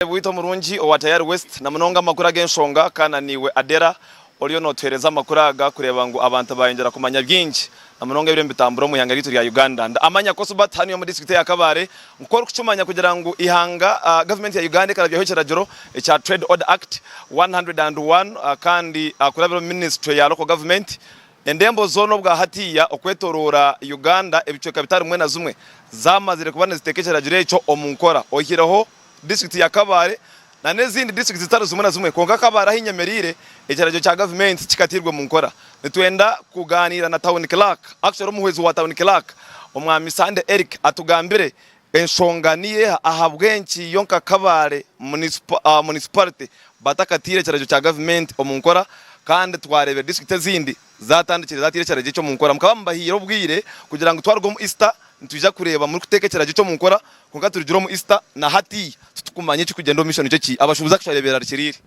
Omureebi waitu omurungi owa Tayari West na munonga amakuru ag'enshonga kandi na naiwe Adela oriyo nootuheereza amakuru aga kureeba ngu abantu baayongyera kumanya bingi na munonga ebiriyo nibitambura omu ihanga ryaitu rya Uganda. Ndamanya Cosbert hanu y'omu disiturikiti ya Kabale nku orikukimanya kugira ngu ihanga gavumenti ya Uganda ekarabyaho ekiragiro ekya Trade Order Act one hundred and one kandi kurabira omu minisitule ya Local Government endembo zoona obwa hatiiya okwetoroora Uganda ebicweka bitari bimwe na zimwe zaamazire kuba niziteeka ekiragiro ekyo omu nkora oyihireho disitirikiti ya Kabale nana ezindi disitirikiti zitari zimwe na zimwe kwonka Kabale ahu enyemereire ekiragiro kya gavumenti kikatairwe omu nkora. Nitwenda kugaaniira na Town Clerk, actually omuhwezi wa Town Clerk Omwami Sande Eric atugambire enshonga niyo eha ahabw'enki yo nka Kabale Municipality batakataire ekiragiro kya gavumenti omu nkora kandi twareebire disitirikiti ezindi Zaatandikire zaateire ekiragiro eki omu nkora. Mukaba mubahaire obwire kugira ngu twaruga omu Easter nitwija kureeba murikuteeka ekiragiro eki omu nkora kwonka turugire omu Easter na hati titukumanya ekirikugyenda omu maisho nikyo ki abashuubuzi akashare beerarikiriire.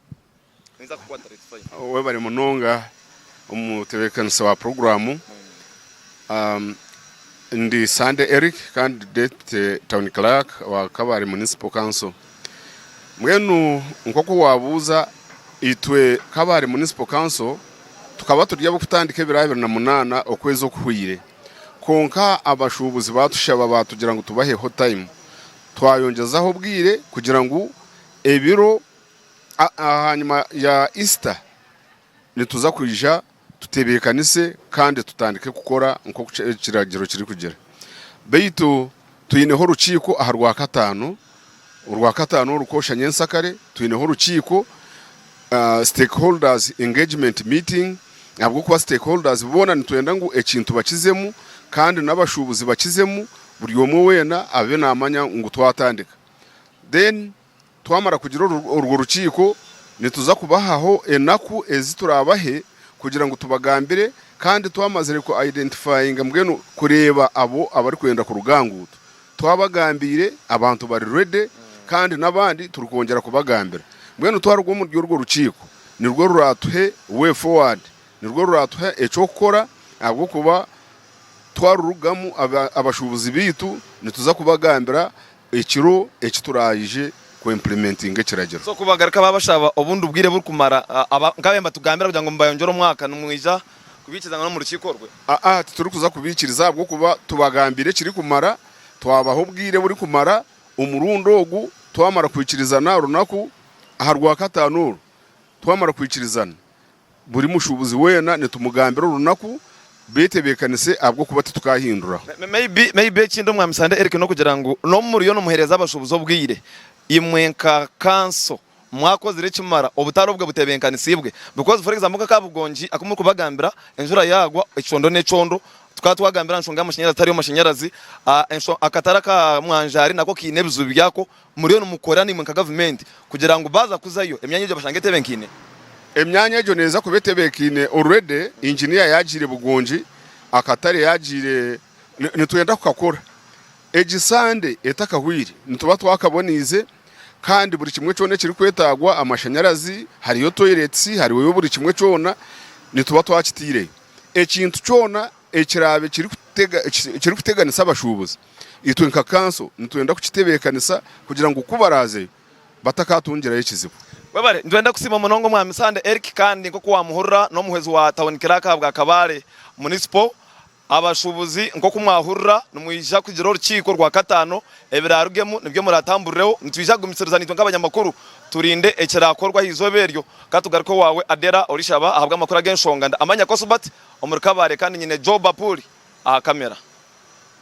Webare munonga omutebeekanisi wa puroguraamu. Ndi Sande Eric kandi ndi Deputy Town Clerk wa Kabale Municipal Council. Mbwenu nk'oku waabuuza, itwe nk'abahari Municipal Council tukaba turi ab'okutandika ebiro abiri na munaana okwezi okuhweire kwonka abashuubuzi baatushaba baatugira ngu tubaheho tayimu twayongyezaho obwire kugira ngu ebiro aha nyima ya Easter nituza kwija tutebeekanise kandi tutandike kukora nk'oku ekiragiro kirikugira. Beitu twineho orukiiko aha Rwakataano, Orwakataano oru kwoshya nyensakare twineho orukiiko, stakeholders engagement meeting, ahabw'okuba stakeholders boona nitwenda ngu ekintu bakizemu kandi n'abashuubuzi bakizemu buri omwe weena abe naamanya ngu twatandika then Twamara kugira orwo rukiiko, nituza kubahaho enaku ezi turaabahe kugira ngu tubagambire, kandi twamazire ku identifyinga mbwenu kureeba abo abarikwenda kuruga aha nguuto twabagambiire, abantu bari ready kandi n'abandi turikwongyera kubagambira. Mbwenu twaruga omuri orwo rukiiko nirwo ruraatuhe way forward, nirwo ruraatuhe eky'okukora ahabw'okuba twarurugamu abashuubuzi baitu nituza kubagambira Ekiro eki turaije ku implementinga ekiragiro. So kubagaruka babashaba obundi bwire burikumara nkaba mbatugambira kugira ngu mubayongyere omwaka nimwija kubikiriza ngu n'omurukiiko orwe? Aa titurikuza kubikiriza ahabw'okuba tubagambire ekirikumara, twabaha obwire burikumara omurundi ogu twamara kwikirizana aha runaku aha rwakataano oru twamara kwikirizana Buri mushuubuzi weena nitumugambira orunaku, beitu ebeekanise ahabw'okuba titukahinduraho. Maybe ekindi Omwaami Sande Eric n'okugira ngu n'obu muriyo nimuheereza abashuubuzi obwire, imwe nka kanso mwakozire ekimara obutare obwe butebenkanisiibwe because for example nk'aka Bugongi aku murikubagambira enjura yaagwa ekyondo n'ekyondo tukaba twagambire aha nshonga y'amashanyarazi tariho mashanyarazi, akatare aka Mwanjaari nako kaine ebizibu byako Muriyo nimukorera naimwe nka gavumenti kugira ngu baaza kuzayo emyanya egyo bashange etebenkaine? Emyanya egyo neeza kuba etebenkaine already, Engineer yaagiire Bugongi, akatare yaagiire nitwenda kukakora egi Sande etakahweire nituba twakaboneize kandi buri kimwe kyona ekirikwetagwa amashanyarazi hariyo toilets hariyo buri kimwe kyona nituba twakiteireyo ekintu kyona ekiraabe kirikuteganisa abashuubuzi. Itwe nka kanso nitwenda kukitebeekanisa kugira ngu ku baraazeyo batakatungirayo ekizibu. Webare. Nitwenda kusiima munonga Omwami Sande Eric kandi nk'oku wamuhurira n'omuhwezi wa Tawuni Kiraaka ahabwa Kabale Municipal. Abashuubuzi nk'oku mwahurira nimwija kugira orukiiko rwakataano ebiraarugemu nibyo muratamburreho. Nitwija kugumisiriza naitwe nk'abanyamakuru turinde ekiraakorwa aha izooba eryo. Ka tugaruke owaawe Adela Orishaba ahabw'amakuru ag'enshonga. Ndi Amanya Cosbert omuri Kabale kandi nyine Joe Bapuli aha kamera.